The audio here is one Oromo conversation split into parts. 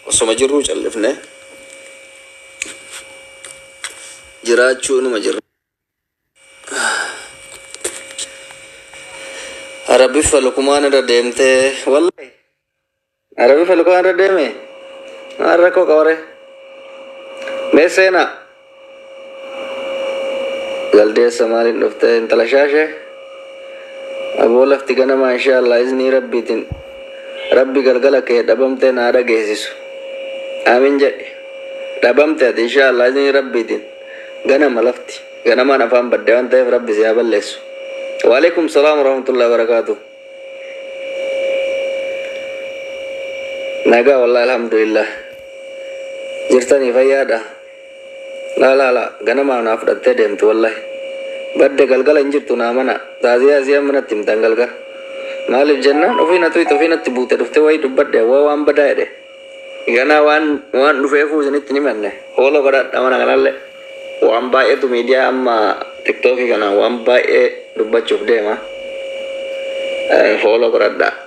Osoma jirruu callifnee jiraachuu numa jirra. Arabiffa lukumaan irra deemtee wallahi. Arabiffa lukumaan irra deeme maal rakkoo qabare mee seenaa. Jaldeessa maaliin dhufte intala shaashe aboo lafti ganamaa inshaallah iznii rabbiitin rabbi galgala kee dhabamtee naa dhageessisu aamin jedhi dhabamte ati inshaallah iznii rabbiitin ganama lafti ganamaan afaan badde waan ta'eef rabbi si haa balleessu waalaikum salaam warahmatullahi wabarakaatu nagaa wallahi alhamdulillah jirtanii fayyaadha Laa laa laa ganamaa naa fudhattee deemti wallahi badde galgala hin jirtu naa mana taaziyaa isii amma natti himtan galga maalif jennaan ofii na tuyxe ofii natti buute dhufte wayii dubbadhe hawwa waan badaa jedhe ganaa waan waan dhufeefuu isinitti hin himanne hoolo godhadha mana kanalle waan baay'eetu miidiyaa amma tiktookii kanaan waan baay'ee dubbachuuf deema hoolo godhadha.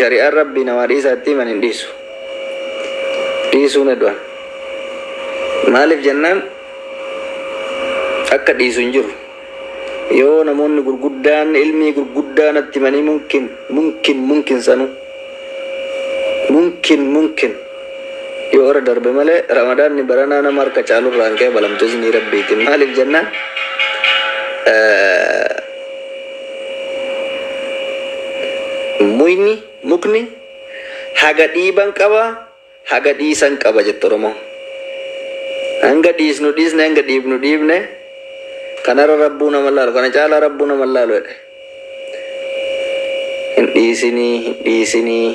shari'aan rabbii namaa dhiisaa itti himan hin dhiisu dhiisuu ni du'an maaliif jennaan akka dhiisu hin jiru yoo namoonni gurguddaan ilmii gurguddaa natti himanii mumkin mumkin mumkin sanu mumkin mumkin yoo irra darbe malee ramadaanni baranaa nama harka caalurraa hin qeebalamtu iznii rabbiitiin maaliif jennaan Muyni, mukni, haga dhiiban qaba, haga dhiisan qaba jette Oromoon. Hanga dhiisnu dhiisne, hanga dhiibnu dhiibne, kanarra Rabbuu nama laalu, kana caalaa Rabbuu nama laalu jedhe. Hin dhiisinii, hin dhiisinii,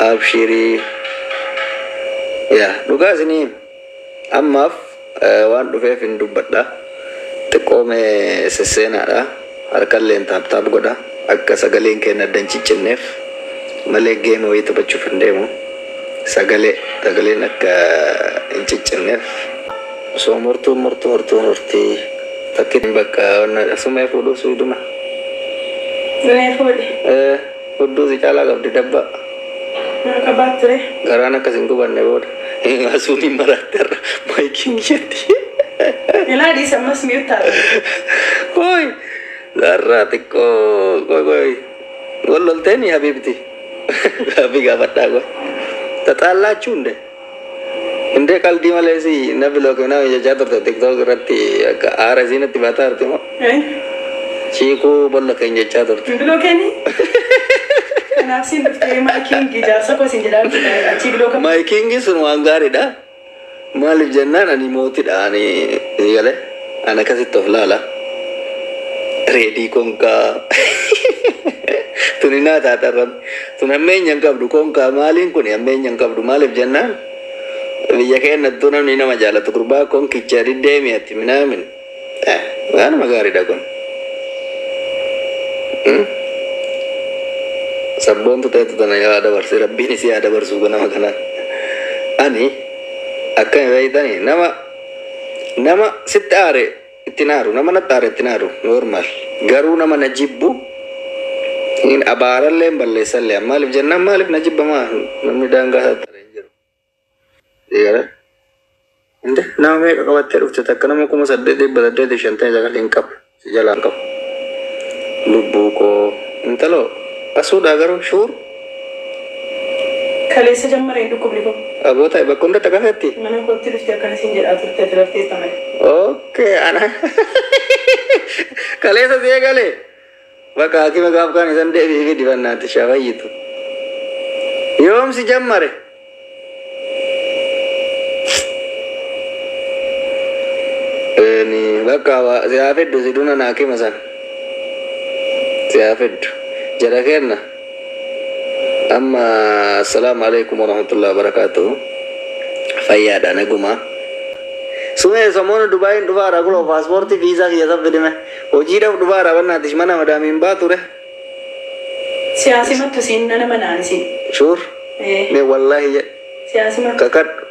abshirii. Yaa dhugaa isinii hima. Ammaaf waan dhufeefin dubbadha. Xiqqoo mee sesseenaadha. Harkalleen taap taap godha. Akka sagaleen keenna adda hin ciccinneef. Malee game wayii taphachuuf hin deemu. Sagalee sagaleen akka hin ciccinneef. Osoo murtuun murtu hortuun horti. Takkitti bakka wanna sumee fuudhuu suiduma. Sumee fuudhi. Ee. Hudduu si caalaa qabdi dabba. Maa qabaatti ree. Garaan akka sin gubanne booda. Asuun hin maraatte har'a maayikiin jetti. Ilaa dhiisa ammas miyuu taate. Kooy zarraa xiqqoo kooy kooy wal lolteeni habiibti. Gaaffii gaafadhaa kooy. Taxaallaachuun de. Hindee qaldii malee si na bilook minaa jechaa turte tiktook irratti akka aara isii natti baataa jirti moo Eh, chiikuu bolla keen jechaa turte. hin bilookeeni? Kanaaf siin dhuftee maakiin jaarsa koo siin jedhaa turte achii bilooka. Maayikiingi sun waan gaariidha. Maaliif jennaan ani mootidha ani galee. An akkasitti of laala. Reedii konkaa. Tuni naa taatan rabbi. Tun hammeenya hin qabdu konkaa maaliin kuni hammeenya hin qabdu maaliif jennaan biyya keennattuu namni nama jaalatu gurbaa konkicha diddeemi ati minaamin. Eh, Waanuma gaariidha kun. Hmm? Sabboontu ta'etu tana yaa dabarsi rabbiin isii yaa dabarsuu nama kanaan. Ani akkami beektanii nama Nama sitti aare ittin aaru nama natti aare ittin aaru normal garuu nama na jibbu hin abaarallee hin balleessallee an maaliif jennaan maaliif na jibba maa namni daangaa isaa tare hin jiru Gara- Inde nama meeqa qabattee dhufte takka nama kuma saddeet dhibba saddeetiif shantamii sagal hin qabu. si jalaa hin qabu lubbuu koo. Intalo asuu dhaa garuu shuur. Kaleessa jammareen dhukkubni koo. Aboo ta'i bakka hunda xaqasetti. Mana kootti dhufte akkana siin jedhaa turte ati rafteetta malee. Ok ana kaleessa si eegale bakka hakima gaaf kaan isan deebi'ifi dibannaatti shaa fayyitu. Yoom si jammare? Ni bakka waa si haa fiddu si duna naa kima san si haa fiddu jara kenna amma assalaamu alaikum warahmatullahi wabarakaatuhu fayyaadha naguma sumee samoona dubaayin dhufaara kuloo paaspoortii viizaa kiyya san fidime hojiidhaaf dhufaara bannaatish mana madaamiin baa ture Siyaasi mattu siin nan amana ani siin. Sure? Ee. Mee wallaahi jedhi. Siyaasi mattu. Kakadhu.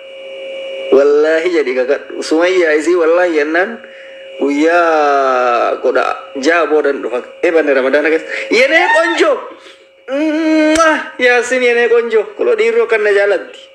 Wallaahi jedhi kakadhu. Sumayyaa isii wallaahi jennaan guyyaa kudha ja'a boodan dhufa. Ebanne ramadaana keessa. Yenee qonjoo! Mwah! Yaasin yenee qonjoo. Kuloo dhiirri akkan na jaalatti.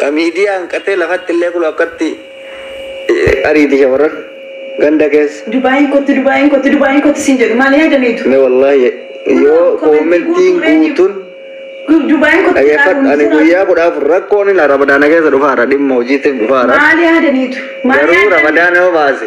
Ka miidiyaa hanqatee lafatti illee kunoo akkatti ariiti shamarran ganda keessa. Dubaayiin kottu Dubaayiin kottu Dubaayiin kottu siin jedhu maal yaadaniitu? Me wallahi yoo commentiin guutun dhageeffadhu ani guyyaa kudha afur rakkoon ila ramadaana keessa dhufaara dhimma hojiitif dhufaara garuu ramadaana yoo baase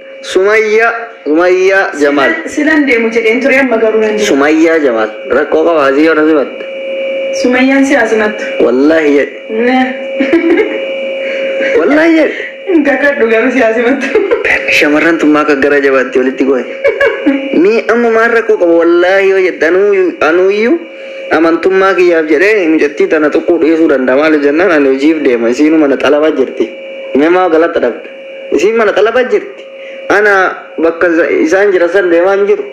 Sumayya sumayya jamal. Silan deemu jedheen ture amma garuu nan deema. Sumayya jamal. Rakkoo qaba asii yoo na simatte. Sumayyaan si asimattu. Wallahi jedhe. Wallahi jedhe. Hin kakadhu garuu si asimattu. Shamarran tun maa akka gara jabaatti walitti goe. Mee amma maal rakkoo qaba wallahi yoo jette anuu- anuuyyuu amantummaa kiyyaaf jedhee mucattii tana tuquu dhiisuu danda'a maaliif jennaan ani hojiif deema isiinuma na xalaba jirti. Mee maa galata dhabda. Isiin mana xalaba jirti ana bakka isaan jiran san deemaa hin jiru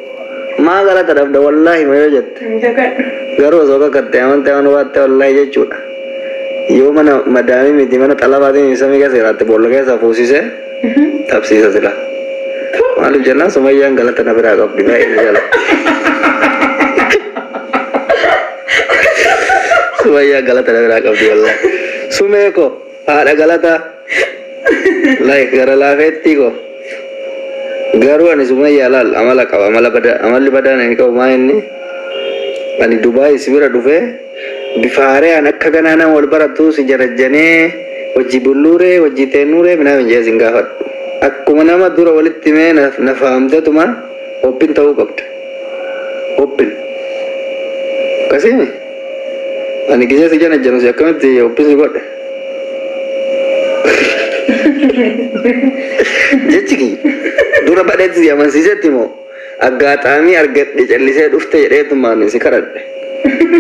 maa galata dhabda wallaahi ma yoo jette garuu osoo kakatte amante waan hubaatte wallaahi jechuudha yoo mana madaamii miti mana xalabaatiin ibsamii keessa jiraatte boolla keessa fuusise dhabsiisa sila maaliif jennaan sumayyaan galata na biraa qabdi baay'ee jala sumayyaa galata na biraa qabdi wallaahi sumee koo Haadha galataa like gara laafeettii koo garuu ani sumayyaa laal amala qaba amala badaa amalli badaan ani qabu maa inni ani dubaayii si bira dhufee bifa haaraan akka ganaa nama wal barattuu si jarajjanee wajji bulluuree wajji teennuuree minaa minjee sin gaafadhu akkuma nama dura walitti mee na fahamtetuma obbin ta'uu qabda obbin akkasiimi. Ani gisee si jana jana si akkamitti obbisi godhe. Jechi kiyya dura badheetti si amansiisetti moo aggaataamii argadhe callisee dhufte jedheetumaan si kadhadhe.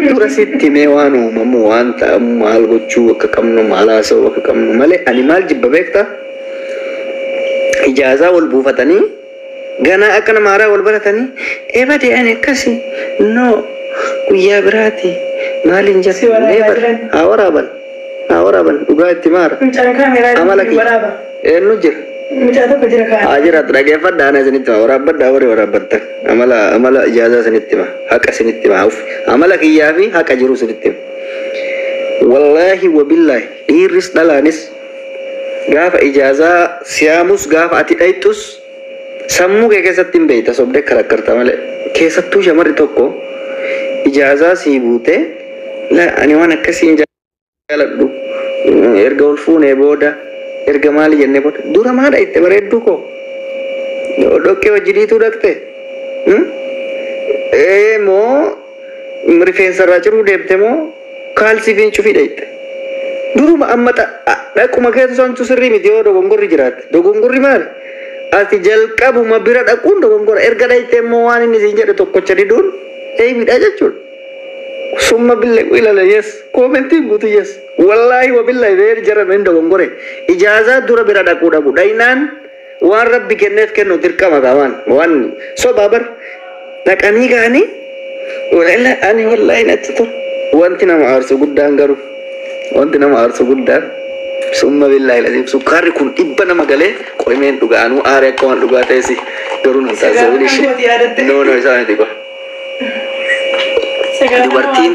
Dura sitti mee waan uumamu waan ta'amu maal gochuu akka qabnu maal haasa'uu akka qabnu malee ani maal jibba beektaa? Ijaazaa wal buufatanii Ganaa akka nama haaraa wal baratanii ebade ani akkasi no guyyaa biraati maaliin Si jette waraabaa never jiran. haa waraaban haa waraaban dhugaa itti maara Mucaan kaameraa amala ittiin kiyya waraaba. eenyu jira Mucaa tokko jira kaa. haa jiraatu dhageeffadha ana isinitti hima waraabbadha warri waraabbattan amala amala ijaazaa isinitti hima haqa isinitti hima hauf amala kiyyaa fi haqa jiru isinitti hima wallaahi wabillaahi dhiirris dhalaanis Gaafa ijaazaa siyaamus gaafa ati dhayxus sammuu kee keessatti hin beeyta sobdee karakkarta malee. Keessattuu shamarri tokko ijaazaa sii guutee la ani waan akkasii hin jaaladhu erga wal fuunee booda erga maali jennee booda dura maa dhayxte bareedduu koo dhoqqee wajjiniituu dhaqxe? Ee moo Rifeensa irraa ciruu deemte moo kaalsii fi cufii dhayxxe? Duruma amma xa- a- dhaquma keetu santu sirrii miti yoo dogongorri jiraate. Dogongorri maali? Ati jalqabuma bira dhaquun dogongora. Erga dhayxxe immoo waan inni siin jedhe tokkocha diduun eeybidha jechuudha. Summa bille ilala yes. Koomentiin guutu yes. Wallaahi wabillahi beeri jaran hin dogongore. Ijaazaa dura bira dhaquu dhabu. Dhaynaan Waan rabbi kenneef kennu dirqama gaa waan waan sobaa bar dhaqanii gaanii wala ani wallahi natti tol wanti nama aarsu guddaan garuu wanti nama aarsu guddaan summa billahi lazim sukkaarri kun dhibba nama galee qoymeen dhugaa anuu aare akka waan dhugaa ta'esi garuu nan taasisa Sigaa bilishe kan kooti yaadatte. no no isaa miti kwa Sagantaa dubartiin